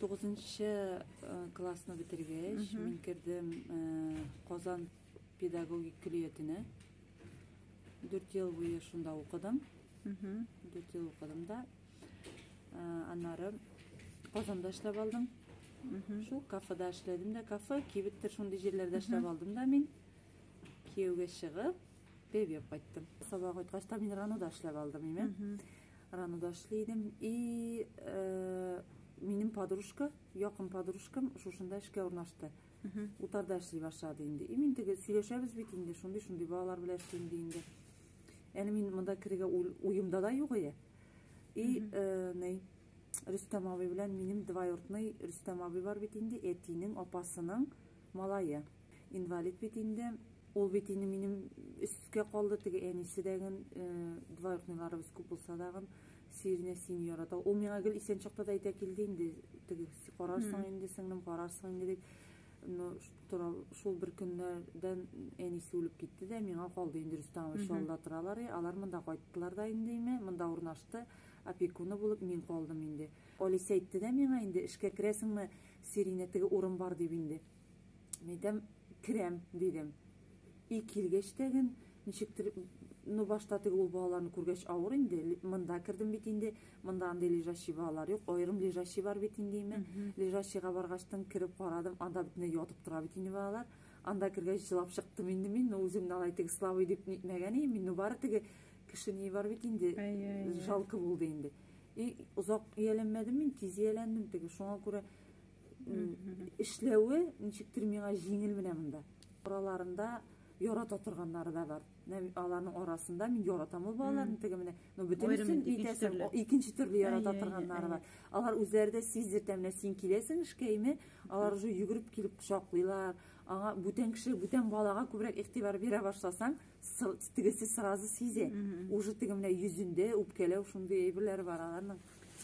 Тугызынчы классны бетергәч, мин кердем Казан педагогик көллиятенә. Дүрт ел буе шунда укыдым. Дүрт ел укыдым да. Аннары Казанда эшләп алдым. Шул кафеда эшләдем дә, кафе, кибеттер шундый җирләрдә эшләп алдым да мин. Кияүгә чыгып, бебеп кайттым. Сабак үткәч, Таминранода эшләп алдым, име. Ранада эшли идем. И э, минем подружка, якын подружкам шушында эшкә урнашты. Утарда эшли башлады инде. И мин теге сөйләшәбез бит инде, шундый шундый балалар белән эшлим ди инде. Әле мин монда керергә уемда да юк иде. И э, ней Рөстәм абый белән минем двоюродный Рөстәм абый бар бит инде, әтинең апасының Малае. Инвалид бит инде. Ул бит инде минем өскә калды, теге әнисе дәген, двоюродныйларыбыз күп булса дагын, Сиринә син ярата. Ул миңа гел исән чакта да әйтә килде инде, теге карарсың инде, сеңлем, карарсың инде дип. Но тора шул бер көннәрдән әнисе үлеп китте дә, миңа калды инде Рөстәмович шалда торалар, и, алар монда кайттылар да инде име, монда урнашты, опекуны булып мин калдым инде. Алисе әйтте дә миңа инде, эшкә керәсеңме, Сиринә, теге урын бар дип инде. Мин әйтәм, керәм, дидем. И килгәч тәген, ничектер, ну башта теге ул балаларны күргәч авыр инде, монда кердем бит инде, монда андый лежащий балалар юк, аерым лежащий бар бит инде имен. Лежащийга баргачтын кереп карадым, анда бөтенләй ятып тора бит инде балалар. Анда кергәч җылап чыктым инде мин, ну үземне алай теге слабый дип нитмәгән идем, мин ну бары теге кеше ни бар бит инде, жалко булды инде. И, озак ияләнмәдем мин, тиз ияләндем теге. Шуңа күрә эшләве ничектер миңа җиңел менә монда. Араларында ярата торганнары да бар. Аларның арасында мин яратам ул балаларны теге менә. Но бөтенесен итәсем, икенче төрле ярата торганнары бар. Алар үзләре дә сиздертә менә син киләсең эшкәйме, алар уже йөгереп килеп кочаклыйлар. Аңа бүтән кеше, бүтән балага күбрәк игътибар бирә башласаң, тегесе сразу сизә. Уже теге менә йөзендә үпкәләү шундый әйберләре бар аларның.